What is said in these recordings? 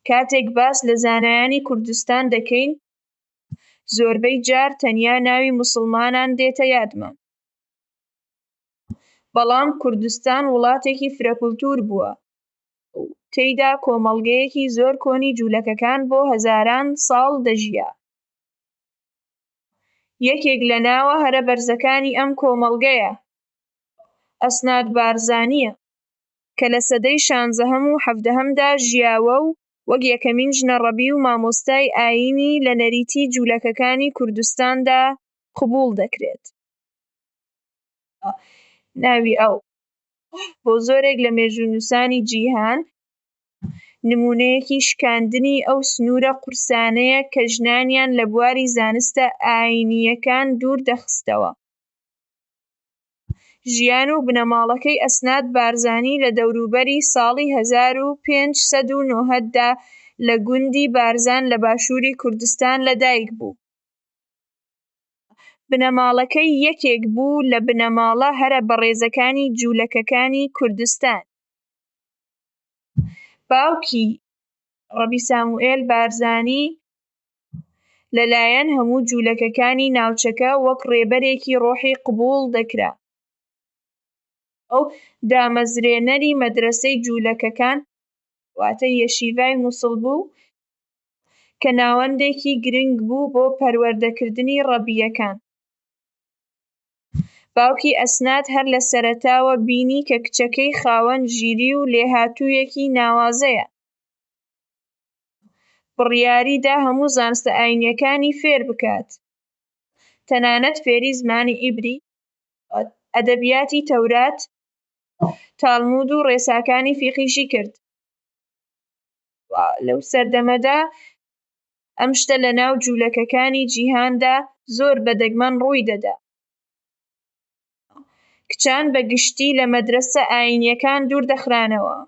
کاتێک باس لە زانایانی کوردستان دەکەین زۆربەی جار تەنیا ناوی موسڵمانان دێتە یادمان، بەڵام کوردستان وڵاتێکی فرەکولتوور بووە و تێیدا کۆمەڵگەیەکی زۆر کۆنی جوولەکەکان بۆ هەزاران ساڵ دەژیا. یەکێک لە ناوە هەرە بەرزەکانی ئەم کۆمەڵگەیە ئەسناد بارزانییە. کە لە سەدەی شانزەهەم و حەڤدەهەمدا ژیاوە و وەک یەکەمین ژنە ڕەبی و مامۆستای ئایینی لە نەریتی جوولەکەکانی کوردستاندا قبووڵ دەکرێت. ناوی ئەو بۆ زۆرێک لە مێژوونووسانی جیهان نموونەیەکی شکاندنی ئەو سنوورە قورسانەیە کە ژنانیان لە بواری زانستە ئایینییەکان دوور دەخستەوە. ژیان و بنەماڵەکەی ئەسناد بارزانی لە دەوروبەری ساڵی هەزار و پێنج سەد و نۆهەد دا لە گوندی بارزان لە باشووری کوردستان لە دایک بوو. بنەماڵەکەی یەکێک بوو لە بنەماڵە هەرە بەڕێزەکانی جوولەکەکانی کوردستان. باوکی، ڕەبی ساموئێل بارزانی، لەلایەن هەموو جوولەکەکانی ناوچەکە وەک ڕێبەرێکی ڕۆحی قبووڵ دەکرا. ئەو دامەزرێنەری مەدرەسەی جوولەکەکان واتە یەشیڤای موسڵ بوو کە ناوەندێکی گرنگ بوو بۆ پەروەردەکردنی ڕەبییەکان. باوکی ئەسناد هەر لە سەرەتاوە بینی کە کچەکەی خاوەن ژیری و لێهاتوویەکی ناوازەیە. بڕیاری دا هەموو زانستە ئایینییەکانی فێر بکات، تەنانەت فێری زمانی عیبری، ئەدەبیاتی تەورات، تالمود و ڕێساکانی فیقهیشی کرد. لەو سەردەمەدا ئەم شتە لە ناو جوولەکەکانی جیهاندا زۆر بە دەگمەن ڕووی دەدا. کچان بە گشتی لە مەدرەسە ئایینییەکان دوور دەخرانەوە.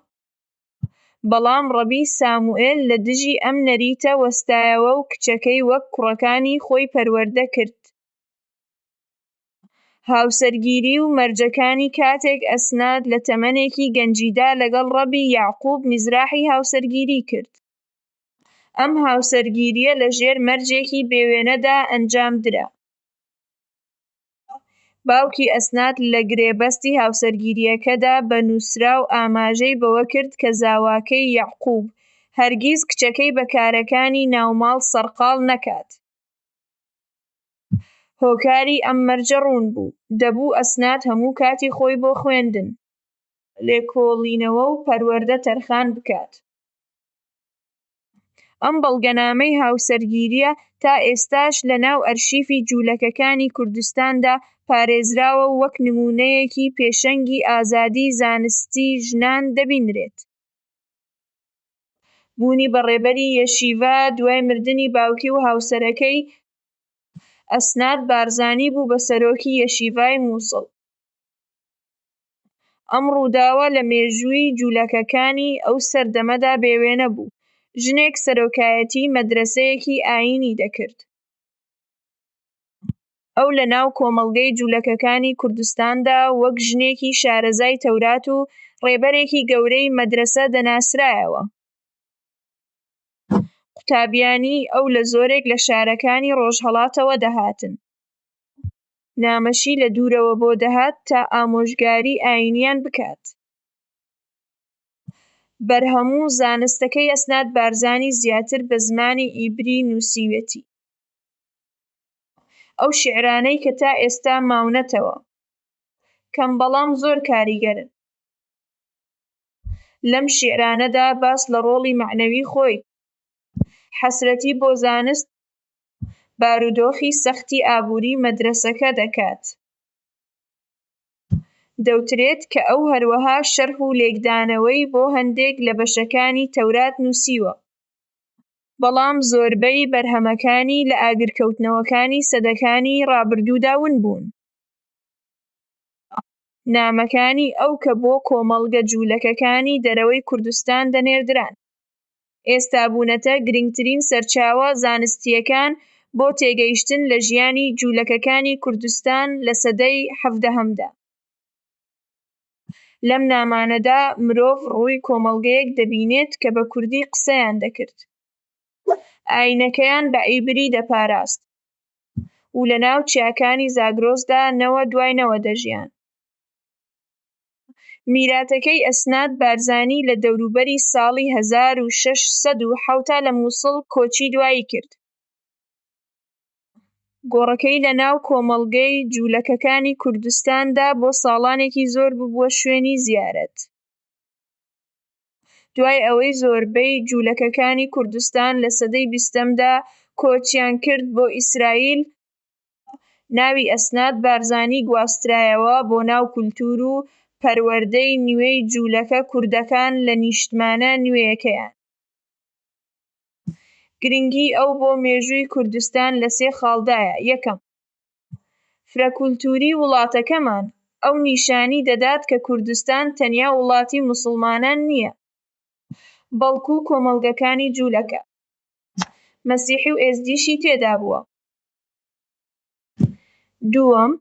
بەڵام ڕەبی ساموئێل لە دژی ئەم نەریتە وەستایەوە و کچەکەی وەک کوڕەکانی خۆی پەروەردە کرد. هاوسەرگیری و مەرجەکانی کاتێک ئەسنات لە تەمەنێکی گەنجیدا لەگەڵ ڕەبی یەعقوب میزراحی هاوسەرگیری کرد. ئەم هاوسەرگیرییە لەژێر مەرجێکی بێوێنەدا ئەنجام درا. باوکی ئەسناد لە گرێبەستی هاوسەرگیرییەکەدا بە نووسراو ئاماژەی بەوە کرد کە زاواکەی یەعقووب هەرگیز کچەکەی بە کارەکانی ناوماڵ سەرقاڵ نەکات، هۆکاری ئەم مەرجە ڕوون بوو، دەبوو ئەسناد هەموو کاتی خۆی بۆ خوێندن، لێکۆڵینەوە و پەروەردە تەرخان بکات. ئەم بەڵگەنامەی هاوسەرگیرییە تا ئێستاش لە ناو ئەرشیفی جوولەکەکانی کوردستاندا پارێزراوە و وەک نموونەیەکی پێشەنگی ئازادی زانستی ژنان دەبینرێت. بوونی بە ڕێبەری یەشیڤا دوای مردنی باوکی و هاوسەرەکەی، ئەسناد بارزانی بوو بە سەرۆکی یەشیڤای مووسڵ. ئەم ڕووداوە لە مێژووی جوولەکەکانی ئەو سەردەمەدا بێوێنە بوو، ژنێک سەرۆکایەتیی مەدرەسەیەکی ئایینی دەکرد، ئەو لەناو کۆمەڵگەی جوولەکەکانی کوردستاندا وەک ژنێکی شارەزای تەورات و ڕێبەرێکی گەورەی مەدرەسە دەناسرایەوە، قوتابیانی ئەو لە زۆرێک لە شارەکانی ڕۆژهەڵاتەوە دەهاتن. نامەشی لە دوورەوە بۆ دەهات تا ئامۆژگاری ئایینیان بکات. بەرهەموو زانستەکەی ئەسناد بارزانی زیاتر بە زمانی ئیبری نووسیوێتی. ئەو شیعرانەی کە تا ئێستا ماونەتەوە کەم بەڵام زۆر کاریگەرن. لەم شیعرانەدا باس لە ڕۆڵی مەعنەوی خۆی، حەسرەتی بۆ زانست بارودۆخی سەختی ئابووری مەدرەسەکە دەکات. دەوترێت کە ئەو هەروەها شەرح و لێکدانەوەی بۆ هەندێک لە بەشەکانی تەورات نووسیوە، بەڵام زۆربەی بەرهەمەکانی لە ئاگرکەوتنەوەکانی سەدەکانی ڕابردوودا ون بوون. نامەکانی ئەو کە بۆ کۆمەڵگە جوولەکەکانی دەرەوەی کوردستان دەنێردران. ئێستا بوونەتە گرنگترین سەرچاوە زانستییەکان بۆ تێگەیشتن لە ژیانی جوولەکەکانی کوردستان لە سەدەی حەڤدەهەمدا. لەم نامانەدا مرۆڤ ڕووی کۆمەڵگەیەک دەبینێت کە بە کوردی قسەیان دەکرد، ئایینەکەیان بە عیبری دەپاراست و لەناو چیاکانی زاگرۆسدا نەوە دوای نەوە دەژیان. میراتەکەی ئەسناد بارزانی لە دەوروبەری ساڵی هەزار و شەش سەد و حەوتا لە موسڵ کۆچی دوایی کرد. گۆڕەکەی لە ناو کۆمەڵگەی جوولەکەکانی کوردستاندا بۆ ساڵانێکی زۆر ببووە شوێنی زیارەت. دوای ئەوەی زۆربەی جوولەکەکانی کوردستان لە سەدەی بیستەمدا کۆچیان کرد بۆ ئیسرائیل، ناوی ئەسناد بارزانی گواسترایەوە بۆ ناو کولتوور و پەروەردەی نوێی جوولەکە کوردەکان لە نیشتمانە نوێیەکەیان. گرنگیی ئەو بۆ مێژووی کوردستان لە سێ خاڵدایە، یەکەم، فرەکولتووریی وڵاتەکەمان، ئەو نیشانی دەدات کە کوردستان تەنیا وڵاتی موسڵمانان نییە، بەڵکوو کۆمەڵگەکانی جوولەکە، مەسیحی و ئێزدیشی تێدا بووە. دووەم،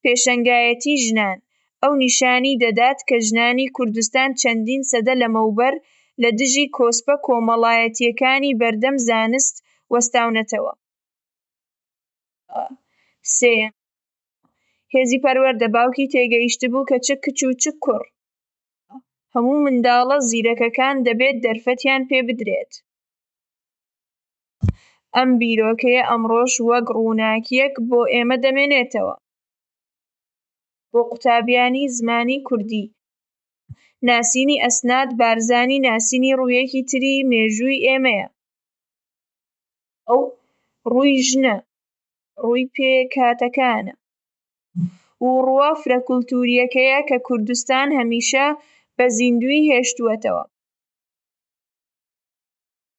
پێشەنگایەتی ژنان، ئەو نیشانی دەدات کە ژنانی کوردستان چەندین سەدە لەمەوبەر لە دژی کۆسپە کۆمەڵایەتییەکانی بەردەم زانست وەستاونەتەوە. سێیەم، هێزی پەروەردە، باوکی تێگەیشتبوو کە چ کچ و چ کوڕ، هەموو منداڵە زیرەکەکان دەبێت دەرفەتیان پێ بدرێت. ئەم بیرۆکەیە ئەمڕۆش وەک ڕووناکییەک بۆ ئێمە دەمێنێتەوە. بۆ قوتابیانی زمانی کوردی، ناسینی ئەسناد بارزانی ناسینی ڕوویەکی تری مێژووی ئێمەیە. ئەو ڕووی ژنە، ڕووی پێکهاتەکانە و ڕووە فرەکولتوورییەکەیە کە کوردستان هەمیشە بە زیندوویی هێشتووەتەوە.